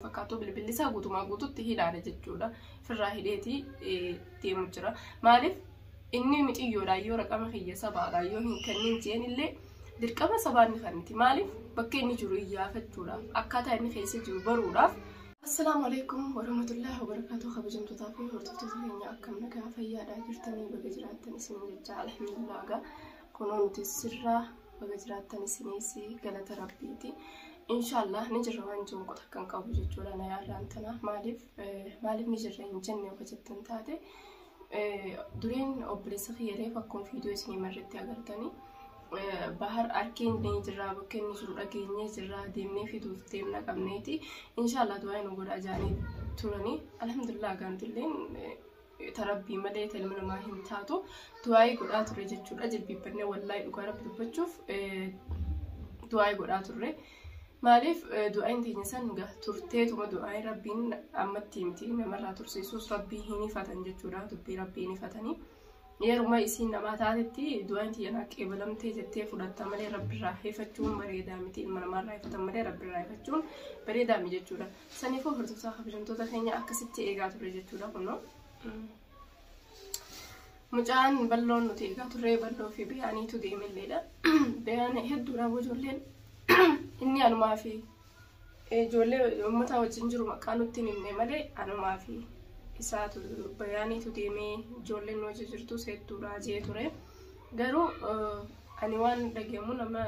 fakkaatu bilbilli isaa guutumaa guututti hilaale jechuudha. Firraa hidheetii deemu jira. Maaliif inni miciyyoodhaan yoo raqama kiyya sabaadhaan yoo hin kennin jeen illee dirqama sabaan ni kanniti. Maaliif bakka inni jiru iyyaafachuudhaaf akkaataa inni keessa jiru baruudhaaf. Assalaamu alaikum warahmatullahi wabarakatuh kabajamtootaa fi hordoftoota keenya akkam nagaa fayyaadhaa jirtanii baga jiraattan isin jechaa alhamdulillah gaa kunoo nuti sirraa baga jiraattan isinis galata rabbiiti. Inshaallah ni jirra waan jiru qota kan qabu jechuudha na yaadaan tana maaliif maaliif ni jirra hin jenne yoo jettan taate duriin obboleessa kiyya reef akkuma fiidiyoo isinii marratti agartanii bahar arkeen ni jirra bakkee ni jiru dhageenyee jirra deemnee fiduuf deemna qabneeti inshaallah du'aa nu godha jaanii turanii alhamdulillah gaantilleen ta rabbii malee ta ilma namaa hin taatu du'aa'ii godhaa turre jechuudha jilbiibbannee wallahi dhugaa rabbi dubbachuuf du'aa'ii godhaa turre maaliif du'aa'iin teenya san ga turteetuma du'aa'iin rabbiin ammatti miti namarraa tursiisuus rabbii hin ifatan jechuudha dubbii rabbii hin ifatanii yeruma isiin namaa taatetti du'aa'iin tiyya naa qeebalamtee jettee fudhatta malee rabbiirraa hifachuun bareedaa miti ilma namaarraa hifatan malee rabbiirraa hifachuun bareedaa miti jechuudha. Saniifuu hordoftoota kabajamtoota keenya akkasitti eegaa turre jechuudha kunoo. Mucaan balloon nuti eegaa turre balloo fi beeyaaniitu deemelleedha. Beeyaan hedduudha ijoolleen inni anumaa fi ijoollee uummataa wajjin jiru maqaa nutti hin himne malee anumaa fi isaatu beeyaaniitu deemee ijoolleen nu wajjin jirtus hedduudha jee ture. Garuu ani waan dhagahamu nama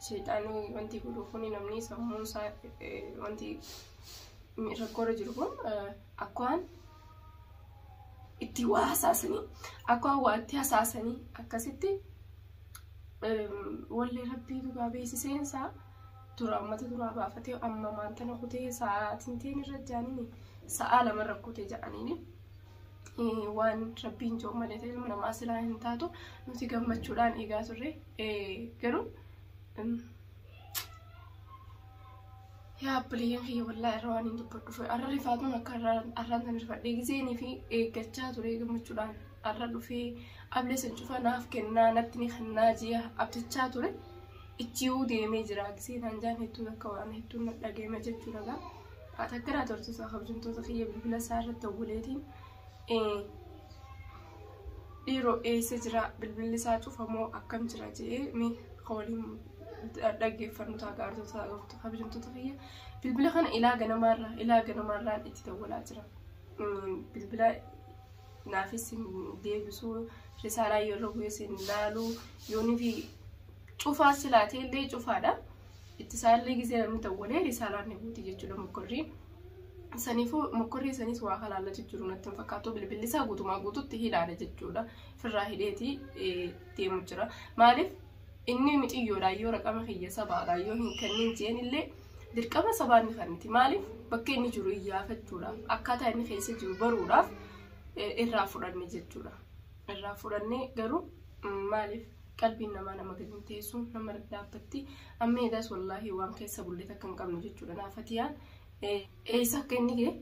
sheexaanii wanti godhu kuni namni sammuun isaa wanti rakkoorra jiru kun akkaan itti waa hasaasanii akkaan waa itti hasaasanii akkasitti wallee rabbii dhugaa beeksiseen isaa dura ammata duraa baafatee amma maantana kutee sa'aatiin teen irra jaaniin sa'aa lama rakkute jedhaniini. waan rabbiin jiru malee ta'e ilma namaa silaa hin taatu nuti gammachuudhaan eegaa turre garuu yaa abbileeyyan kiyya wallaa irra waan hin dubbadhuuf arra rifaatuun akka arraan san rifadhee giseenii fi eeggachaa ture gammachuudhaan arra dhufee ablee san cufa naaf kennaa natti ni kennaa ji'a abdachaa ture ichiiwuu deemee jira giseenaan jaan hedduu akka waan hedduun dhaga'eema jechuudha gaa. Atakkiraa tortosaa kabajamtoota kiyya bilbila isaa irratti obboleetiin dhiiroo eessa jira bilbilli isaa cufamoo akkam jira jedhee mee ka waliin dhaggeeffannu ta'a gaartoota kabajamtoota kiyya bilbila kana ilaa ganamaarraa ilaa ganamaarraan itti dawwalaa jira bilbila naafis hin deebisu risaalaa yeroo bu'ee sin ilaalu yoonii fi cufaa silaatee illee cufaadha. itti isaallee gisee namni tawwalee risaalaan ni guuti jechuudha mokkorrii. Saniifuu mokkorrii isaaniis waa halaala jijjiiruu natti hin fakkaatu bilbilli isaa guutumaa guututti hilaala jechuudha. Firraa hidheeti deemu jira. Maaliif inni miciyyoodha yoo raqama kiyya sabaadha yoo hin kennin jeen illee dirqama sabaan ni kanniti. Maaliif bakka inni jiru iyyaafachuudhaaf akkaataa inni keessa jiru baruudhaaf irraa fudhanne jechuudha. Irraa fudhannee garuu maaliif qalbiin namaa nama gadi hin teessu nama irra dhaabbatti amma eedaas wallaahi waan keessa bullee takka hin qabne jechuudha naa fatiyaan eessa akka inni gee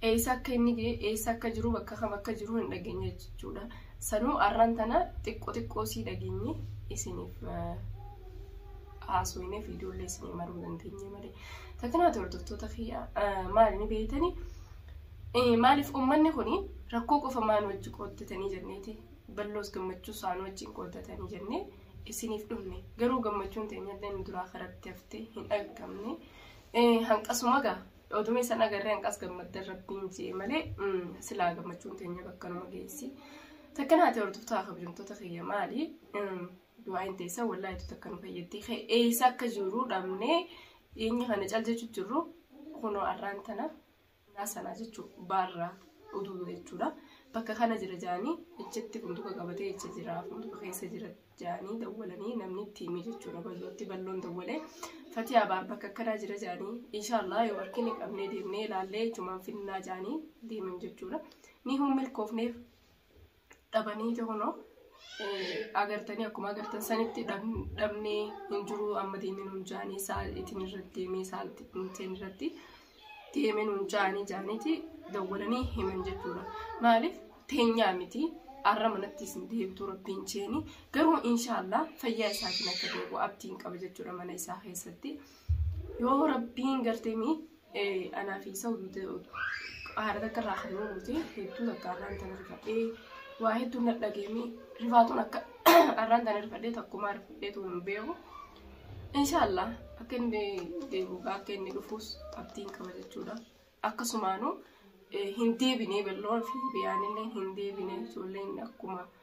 eessa akka inni gee eessa akka jiru bakka kam akka jiru hin dhageenye jechuudha sanuu arraan tana xiqqoo xiqqoo sii dhageenye isiniif haasofnee fi ijoollee isinii maruu dandeenye malee takkanaa hordoftoota kiyya maal ni beeytanii maaliif uummanni kun rakkoo qofa maan wajji qooddatanii jenneeti Balloos gammachuu isaa nu wajjin qooddatanii jennee isiniif dhufne. Garuu gammachuun teenyallee nu duraa karatti hafte hin dhaqqabne. Hanqasuma gaa oduma isan agarree hanqas gammaddan rabbiin jee malee silaa gammachuun teenya bakka nama geessi. Takka naati hordoftaa kabajamtoota kiyya maali? Du'aayin teessa wallaahitu takka nu fayyaddi. Eessa akka jiru dhabnee dhiyeenya kana cal jechuun jirru kunoo arraan tana Yaa sanaa jechuun baarraa uduu jechuudha. Bakka kana jira jaanii ejjetti funduka qabatee ejja jira funduka keessa jira jaanii dawwalanii namni itti himee jechuudha ballootti balloon dawwalee fatiyaa baar bakka akkanaa jira jaanii inshaallah yoo harkini qabnee deemnee ilaallee ijumaan finnaa jaanii deeman jechuudha. Ni hin milkoofneef dhabaniiti kunoo agartanii akkuma agartan sanitti dhabnee hin jiru amma deemee nuun jaanii sa'aatiin irratti deemee sa'aatiin irratti deemee nuun jaanii jaaniiti dawwalanii himan jechuudha. Maaliif teenyaa miti arra manatti isin deebtu rabbiin jeeni garuu inshaallah fayyaa isaatiin akka deebi'u abdiin qaba jechuudha mana isaa keessatti. Yoo rabbiin gartanii Anaa fi isa hojjete haadha takka irraa kan uumute hedduu takka arraan tana rifadhee waa hedduu na dhageemi rifaatuun akka arraan tana rifadhee takkumaa rifadhee tuun hin beeku. Inshaallah akka inni deemu akka inni dhufus abdiin qaba jechuudha. Akkasumaanuu hin deebinee balloon fi biyaanillee hin deebinee ijoolleen akkuma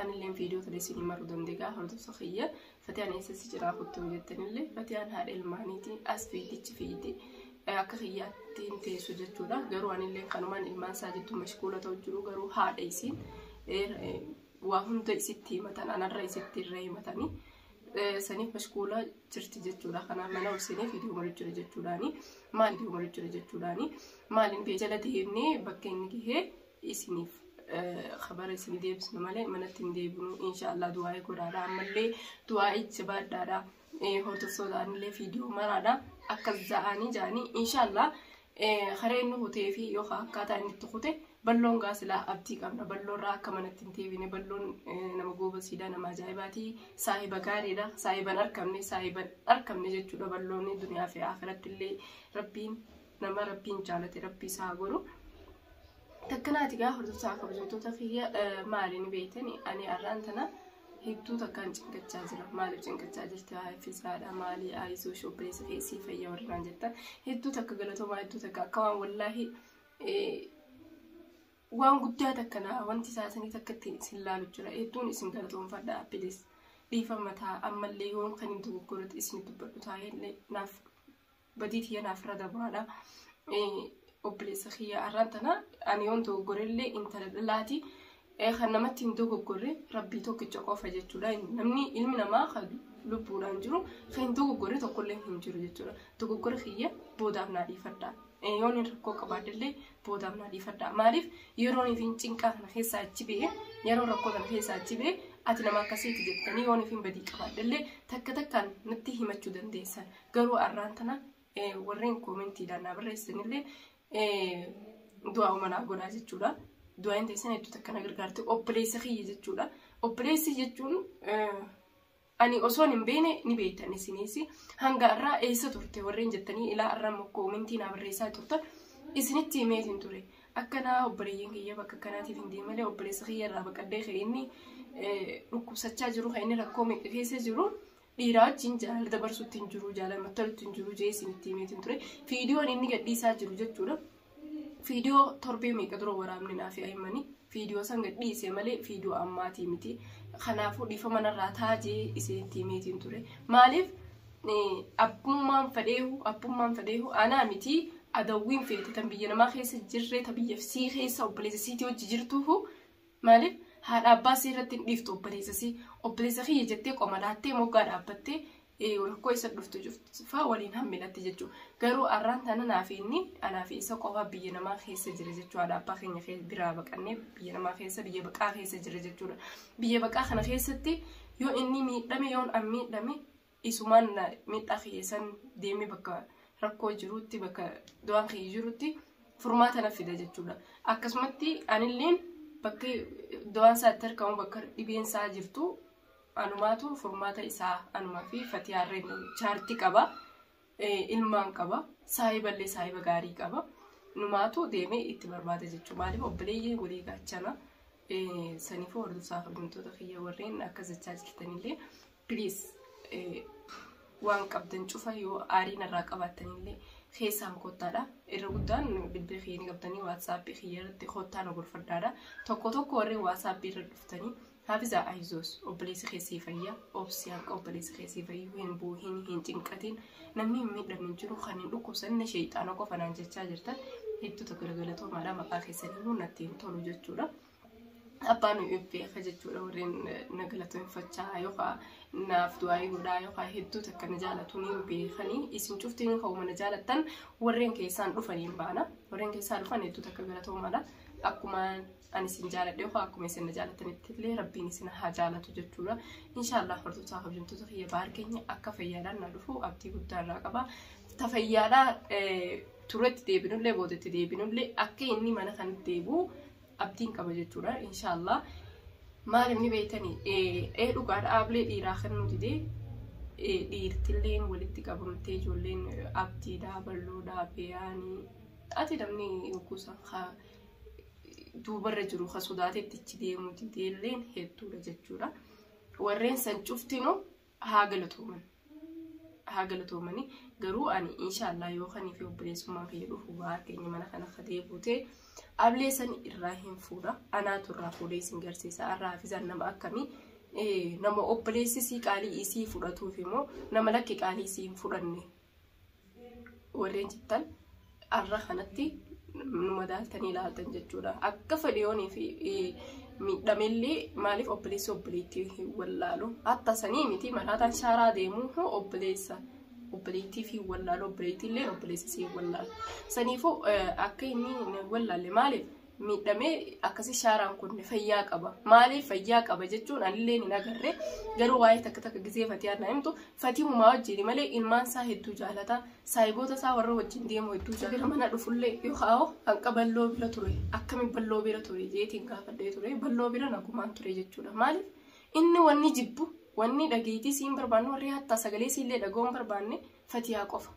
Anilleen viidiyoo tana isin himaruu dandeegaa hordofsa kiyya fatiyaan eessa si jiraa kottuu jettanillee fatiyaan haadha ilmaaniiti as fiigichi fiiti akka kiyyaatti hin teessu jechuudha garuu anilleen kanumaan ilmaan isaa jettu mashkuula ta'u jiru garuu haadha isiin waa hunda isitti himatan anarra isitti irra himatanii saniif mashkuula jirti jechuudha kanaaf mana olseenee viidiyoo marii jira jechuudhaani maal viidiyoo marii jira jechuudhaani maaliin biyya jalatti himnee bakka inni gahee isiniif kabara isin deebisna malee manatti hin deebinu inshaallah du'aa'ii godhaadha ammallee du'aa'ii jabaadhaadha hordoftootaaanillee fiidiyoo maraadha akkas ja'anii ja'anii inshaallah haree inni kutee fi yookaan akkaataa inni itti kute balloon gaasilaa abdii qabna balloorraa akka manatti hin deebine balloon nama goobasiidha nama ajaa'ibaatii saahiba gaariidha saahiban arkamne saahiban arkamne jechuudha balloonni duniyaa fi akiratti illee rabbiin nama rabbiin jaalate rabbii isaa haa godhu. Takkanaati gaa hordoftoota kabajamtoota kiyya maali ni beektani ani arraan tana hedduu takkaan cinkachaa jira maaliif cinkachaa jirti haa fisaadha maali aayisuu shobbeessa keessii fayya warraan jettan hedduu takka galatoomaa hedduu takka akka waan wallaahi waan guddaa takka naa wanti isaa sanii takka ittiin isin laalu jira hedduun isin galatoomfadha bilis dhiifama taa ammallee yoon kan hin dogoggoretti isin dubbadhu taa'ee naaf badii tiyya naaf irra dabaadha. Obboleessa kiyya arraan tana ani yoon dogoggorellee intala dhalaati. Kan namatti hin dogoggorre rabbii tokkicha qofa jechuudha. Namni ilmi namaa kan lubbuudhaan jiru kan hin dogoggorre tokkollee hin jiru jechuudha. Dogoggora kiyya boodaaf naa dhiifadha. Yoon hin rakkoo qabaadhellee boodaaf naa dhiifadha. Maaliif yeroo nuti cinqaa kana keessaa achi ba'e yeroo rakkoo kana keessaa achi ba'e ati nama akkasiiti jettanii yoon nuti badii qabaadhellee takka takkaan natti himachuu dandeessan. Garuu arraan tana warreen koomentiidhaan naa barreessanillee du'aa umanaa godhaa jechuudha. Du'aa hin teessan hedduu takka na gargaarte obboleessa kiyya jechuudha. Obboleessi jechuun ani osoon hin beekne ni beektan isinis hanga irraa eessa turte warreen jettanii ilaa irraa immoo koomentii naa barreessaa turtan isinitti himeet hin ture. Akkanaa obboleeyyan kiyya bakka kanaatiif hin deemne malee obboleessa kiyya irraa baqadhee kan inni dhukkubsachaa jiru kan inni rakkoo meeqa keessa jiru Dhiiraa wajjin jaalala dabarsuutti hin jiru, jaalala mattaluutti hin jiru jee isinitti himeetiin ture. Fiidiyoon inni gadhiisaa jiru jechuudha. Fiidiyoo torbee meeqa dura waraabne naaf yaa'imanii fiidiyoo san gadhiise malee fiidiyoo ammaatii miti. Kanaafuu dhiifama narraa taa jee isinitti himeetiin ture. Maaliif abbummaan fadheehu abbummaan fadheehu anaa miti adawwiin feete tan biyya namaa keessa jirree ta biyya sii keessa obboleessa siitii hojii jirtuuhu Maaliif haadha abbaa isii irratti hin dhiiftu obboleessa isii obboleessa kiyya jettee qoma laattee moggaa dhaabbattee rakkoo isa dhuftu cufaa waliin hammilatte jechuudha. Garuu arraan tana naaf inni anaa fi isa qofaa biyya namaa keessa jira jechuudha. Haadha abbaa keenya biraa baqannee biyya namaa keessa biyya baqaa keessa jira jechuudha. Biyya baqaa kana keessatti yoo inni miidhame yoon an miidhame Isumaan miidhaa kiyya san deemee bakka rakkoo jirutti bakka du'aan kiyya jirutti furmaata na fida jechuudha. Akkasumatti anilleen bakki du'aan isaa itti argamu bakka dhibeen isaa jirtu anumaatu furmaata isaa anumaa fi fatiyaarreen chaartii qaba. Ilmaan qaba. Saahiballee saahiba gaarii qaba. Numaatu deemee itti barbaada jechuudha. Maaliif obboleeyyii walii gaachana saniifuu hordofsaa kabajamtoota kiyya warreen akka jechaa jirtanillee Please waan qabdan cufa yoo aarii narraa qabaattanillee keessaan kottaadha. Irra guddaan bilbila kiyya ni qabdanii waatsaappii kiyya irratti kottaa na gorfadhaadha. Tokko tokko warri waatsaappii irra dhuftanii Hafiza Ayizos obboleessi keessii fayya obsi hanqa obboleessi keessii fayyu hin buuhin hin cinqatiin namni hin miidhamu hin jiru kan hin dhukkubsanne sheeyxaana qofa naan jechaa jirtan hedduu tokko galatomaadha maqaa keessanii natti hin tolu jechuudha. abbaan beeka jechuudha warreen na galateeffachaa yookaan naaf du'aayii godhaa yookaan hedduu takka na jaalatu ni beekanii isin cuftiin ka'uma na jaalattan warreen keessaan dhufanii hin baana warreen keessaa dhufan hedduu takka galatoomaadha akkuma ani isin jaaladhe yookaan akkuma isin na jaalatanitti illee rabbiin isin haa jaalatu jechuudha inshaallah hordoftoota kabajamtoota kiyya baar keenya akka fayyaadhaan na dhufu abdii guddaa irraa qaba ta fayyaadhaa turetti deebinullee boodetti deebinullee akka inni mana kan deebi'u abdiin qaba jechuudha inshaallah maaliif ni beektanii ee dhugaadha aablee dhiiraa kennuu didee dhiirtilleen walitti qabamtee ijoolleen abdiidhaa balloodhaa beeyaanii ati namni yookuusan haa duubarra jiru ka sodaatetti ichi deemuu dideelleen hedduudha jechuudha warreen san cuftinu haa galatooman haa galatoomani garuu ani inshaallah yoo kanii fi obboleessummaan kiyya dhufu waa keenya mana kana akka deebuute ablee sani irraa hin fuudha anaatu irraa fuudhee isin garsiisa arraa hafizaan nama akkamii nama obboleessi isii qaalii isii fudhatuuf immoo nama lakki qaalii isii hin fudhanne warri jettan arra kanatti nu madaaltanii ilaaltan jechuudha. Akka fadiyoonii fi miidhamellee maaliif obboleessi obboleettii hin wallaalu? Hatta sanii miti maraataan shaaraa deemu hoo obboleessa obboleettii fi wallaalu obboleettii illee obboleessa si wallaalu. Saniifuu akka inni wallaalle maaliif? miidhamee akkasii shaaraan kun fayyaa qaba maaliif fayyaa qaba jechuun anillee hin agarre garuu waa'ee takka takka gizee fatiyaa na himtu fatiimumaa wajjin malee ilmaan isaa hedduu jaalata saayiboota isaa warra wajjin deemu hedduu jaalata mana dhufullee yoo kaa'u hanqa balloo bira ture akkamiin balloo bira ture jeetiin gaafadhee ture balloo bira nagumaan ture jechuudha maaliif inni wanni jibbu wanni dhageettii siin barbaanne warri hattaa sagalee siillee dhaga'uun barbaanne fatiyaa qofa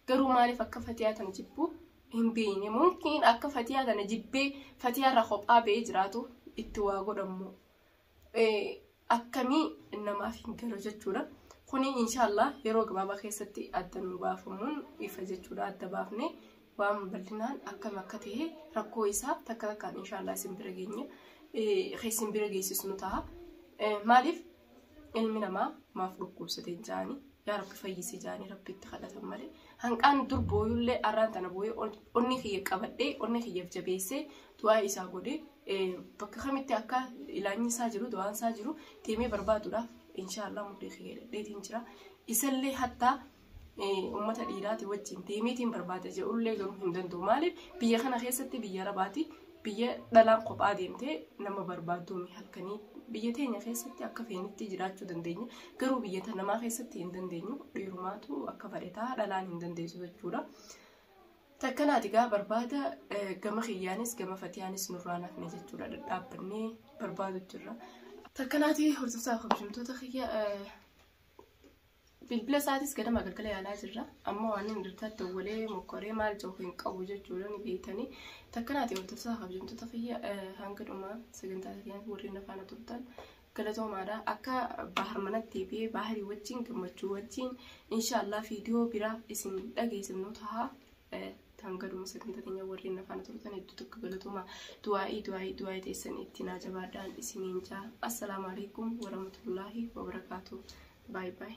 Garuu maaliif akka fatiyaa tana jibbuu hin beeyne mumkiin akka fatiyaa tana jibbee fatiyaa irraa kophaa ba'ee jiraatu itti waa godhammoo akkamii namaaf hin galu jechuudha. Kuni inshaallah yeroo gabaabaa keessatti adda nu baafamuun ifa jechuudha adda baafne waan bal'inaan akkam akka ta'e rakkoo isaa takka takkaan inshaallah isin bira geenye isin bira geessisnu ta'a. Maaliif ilmi namaa maaf dhukkubsate jaani yaa rabbi fayyisi jaani rabbitti kadhatan malee hanqaan dur booyullee arraan tana booyee onni kiyya qabadhee onni kiyyaaf jabeessee du'aa isaa godhe bakka kamitti akka ilaanyi isaa jiru du'aan isaa jiru deemee barbaaduudhaaf inshaallah mudhii kiyya dhadheetiin jira isallee hattaa Uummata dhiiraati wajjin deemiitiin barbaada jedhullee garuu hin danda'u. Maaliif biyya kana keessatti biyya rabaati biyya dhalaan kophaa deemtee nama barbaadduun halkanii biyya teenya keessatti akka feenitti jiraachuu dandeenya. Garuu biyya ta namaa keessatti hin dandeenyu dhiirumaatu akka fadhetaa dhalaan hin dandeessu jechuudha. Takkanaati gaa barbaada gama kiyyaanis gama fatiyaanis nurraan hafne jechuudha dhadhaabbannee barbaadu jirra. Takkanaati hordoftaa kabajamtoota kiyya Bilbila isaatis ganama galgala yaalaa jirra. Amma waan inni irratti dawwalee mokkoree maal ja'u hin qabu jechuudha ni beektanii. Takkanaati hordoftoota kabajamtoota kiyya hanga dhumaa sagantaa keenyatti warreen afaana turtan galatoomaadha. Akka bahar manatti fi baharii wajjin gammachuu wajjin inshaallah viidiyoo biraa isin dhageessifnu taha. Taam gaduma sagantaa keenya warreen afaan turtan hedduu tokko galatoomaa du'aa'ii du'aa'ii du'aa'ii teessan itti naa jabaadhaan isiniin jaa assalaamu alaikum warahmatullaahi wabarakaatu baay baay.